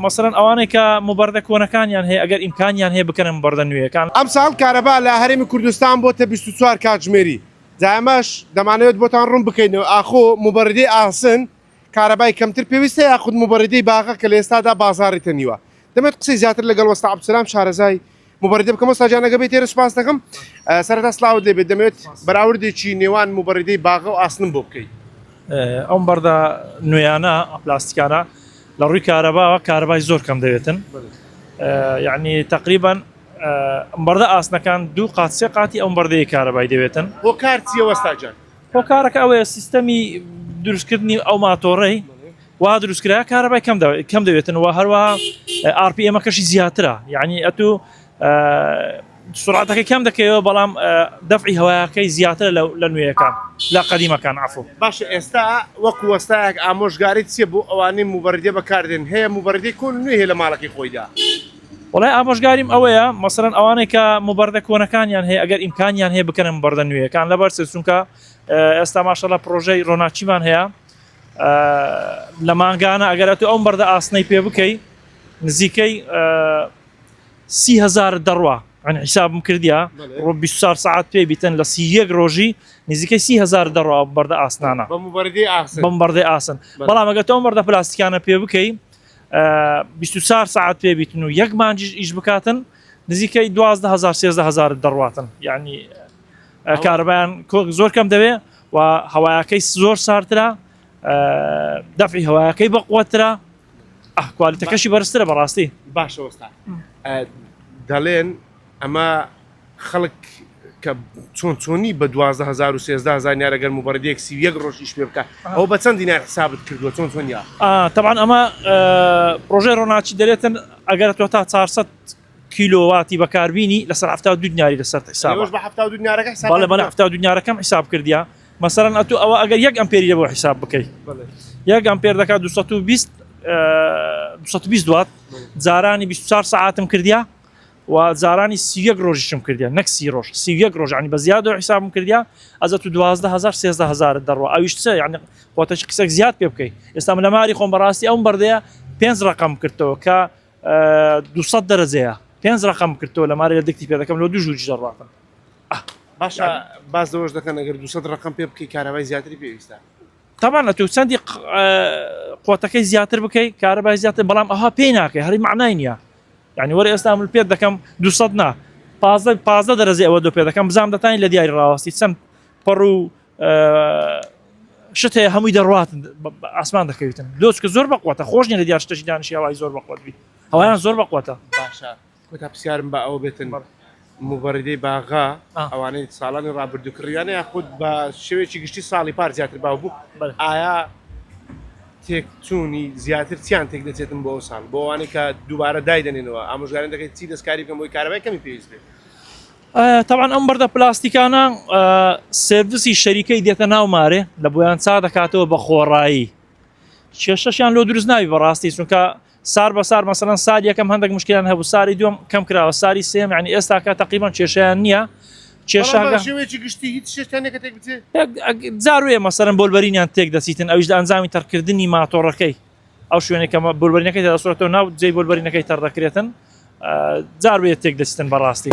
مەسەلەن ئەوانەی کە مبەردە کۆنەکانیان هەیە ئەگەر ئیمکانیان هەیە بکەنە مبەردە نوێیەکان. ئەمساڵ کارەبا لە هەرێمی کوردستان بۆتە بیست و چوار کاتژمێری، جا ئەمەش دەمانەوێت بۆتان ڕوون بکەینەوە ئاخۆ مبەردەی ئاسن کارەبای کەمتر پێویستە یاخود مبەردەی باغە کە لە ئێستادا بازاڕی تەنیوە؟ دەمەوێت قسەی زیاتر لەگەڵ وەستا عەبدولسەلام شارەزای مبریدە بکەم ئەستا جان ئەگەبێت تێرە سپاستەکەم سەرتا سلااوت لێ بێت دەمێت بەراوردێکی نێوان مبریدەی باغە و ئاسنم بۆ بکەیت ئەم بەردە نوێیانە پلاستیکانە لە ڕووی کارەباوە کاربای زۆر کەم دەوێتن یعنی تقریبان بەردە ئاسنەکان دوو قات سێ قاتی ئەم بەردەیە کارەبای دەوێتن بۆ کارتیەوەستاجان هۆکارەکە ئەوەیە سیستەمی دروستکردنی ئەو ماتۆڕی وەها دروستکرایە کارەبای کەم دەوێتن و هەروەها ئارپی ئێمەکەشی زیاترە یعنی ئەتو سرعاتەکەی کەم دەکەوە بەڵام دەفعی هەوایەکەی زیاتر لە نوێیەکان لە قەدیمەکان عفو باش ئێستا وەک وەستایەک ئامۆژگاری چیە بۆ ئەوانەی موبەردێ بەکاردێن هەیە موبەردی کۆن نوێ هەیە لە ماڵەکەی خۆیدا وڵای ئامۆژگاریم ئەوەیە مەسەرەن ئەوانەی کە موبەردە کۆنەکانیان هەیە ئەگەر ئیمکانیان هەیە بکەنم بەردە نوێیەکان لەبەر سچونکە ئێستا ماشەڵە پرۆژەی ڕۆناچیمان هەیە لە مانگانە ئەگەر ئەتو ئەم بەردە ئاسنەی پێ بکەی نزیکەی سی هزار دەڕوا ئەن حیسابم کردیا ڕۆ 24 ساعت پێ بیتن لە سی یەک ڕۆژی نزیکەی سی هزار دەڕوا بەردە ئاسنانە بەم بەردەی ئاسن بەڵام ئەگە تۆم بەردە پلاستیکانە پێ بکەی 24 ساعت پێ بیتن و یەک مانجیش ئیش بکاتن نزیکەی 12هزار سێزدە هزار دەڕاتن یعنی کارەبایان زۆر کەم دەوێ و هەوایەکەی زۆر سارترا دەفعی هەوایەکەی بە قوترا ئەهکوالیتەکەشی بەرزترە بەڕاستی باشەوەستا دەڵێن ئەمە خەڵک کە چۆن چۆنی بە 2013 زانیارە گەرم و بەڕێک سی یەک ڕۆژیش پێ بکە ئەو بە چەند دینار حسابت کردووە چۆن چۆنیا تەبان ئەمە پرۆژێ ڕۆناچی دەێتن ئەگەر تۆ تا 400 کیلۆ واتی بەکاربینی لەسەر حەفتا و دوو دیناری لەسەر حیسابە ئێوەش بە حەفتا و دوو دینارەکە حیساب بەڵێ بەڵێ حەفتا و دوو دینارەکەم حیساب کردیە مەسەلەن ئەتوو ئەوە ئەگەر یەک ئەمپێری لێ بۆ حیساب بکەی بەڵێ یەک ئەمپێر دەکات 220 220 دوات جارانی 24 ساعتم کردیا و جارانی سیەک ڕۆژیشم کردیا نەک سی ڕۆژ سیەک ڕۆژانی بە زیاد و حیسابم کردیا ئەزە تو 12000 13000 دەڕوە ئەویش چە یعنی خۆتەش قسەک زیاد پێ بکەیت ئێستا من لە ماری خۆم بەڕاستی ئەوم بەردەیە پێنج ڕقم کردەوە کە دوو سەد دەرەجەیە پێنج ڕقم کردەوە لە مارە دەکتی پێ دەکەم لە دوو ژووری دەڕاتم باشە باز دەوەش دەکەن ئەگەر دوو سەد ڕقم پێ بکەی کارەبای زیاتری پێویستە تەبان ئەتو چەندی قوتەکەی زیاتر بکەی کارەبای زیاتر بەڵام ئەها پێی ناکەی هەری معنای نییە یعنی وەرە ئێستا من پێ دەکەم دو نا پازە پازە دەرەزی ئەوە دو پێ دەکەم بزانام دەتانی لە دیاری ڕاوەستی چەند پەڕ و شت هەیە هەمووی دەڕاتن ئاسمان دەکەویتن لۆچکە زۆر بەقوتە خۆش نیە لە دیار شتەشی دانیشی هەوای زۆر بەقوت بی هەوایان زۆر بەقوتە باشە کۆتا پرسیارم بە ئەوە بێتن مبڕدەی باغا ئەوانەی ساڵانی ڕابردوو کڕیانە یاخود بە شێوێکی گشتی ساڵی پار زیاتر باو بوو ئایا تێکچوونی زیاتر چیان تێک دەچێتم بۆ ساڵ بۆوانەی کە دووبارە دایدەنێنەوە ئامژگارن دەکەیت چی دەستکاری بکەم بۆی کارەبای کەمی پێویست بێت تەبعەن ئەم بەردە پلاستیکانە سێرڤسی شەریکەی دێتە ناو مارێ لە بۆیان چا دەکاتەوە بە خۆڕایی کێشەشیان لۆ دروست ناوی بەڕاستی چونکە سار بە سار مەسەن سار یەکەم هەندێک مشکیان هەبوو ساری دوم کەم کراوە ساری سێم ینی ئێستاکە تقریبان کێشیان نییە جاروێ مەسەرم بۆلبەرینیان تێک دەچیتن ئەوش ئەنجامی تەرکردنی ماتۆڕەکەی ئەو شوێنێک کە بۆربەرینەکەی تێدا سوڕێتەوە ناو جێی بۆربەرینەکەی تەڕ دەکرێتن جار بێت تێک دەچتن بەڕاستی.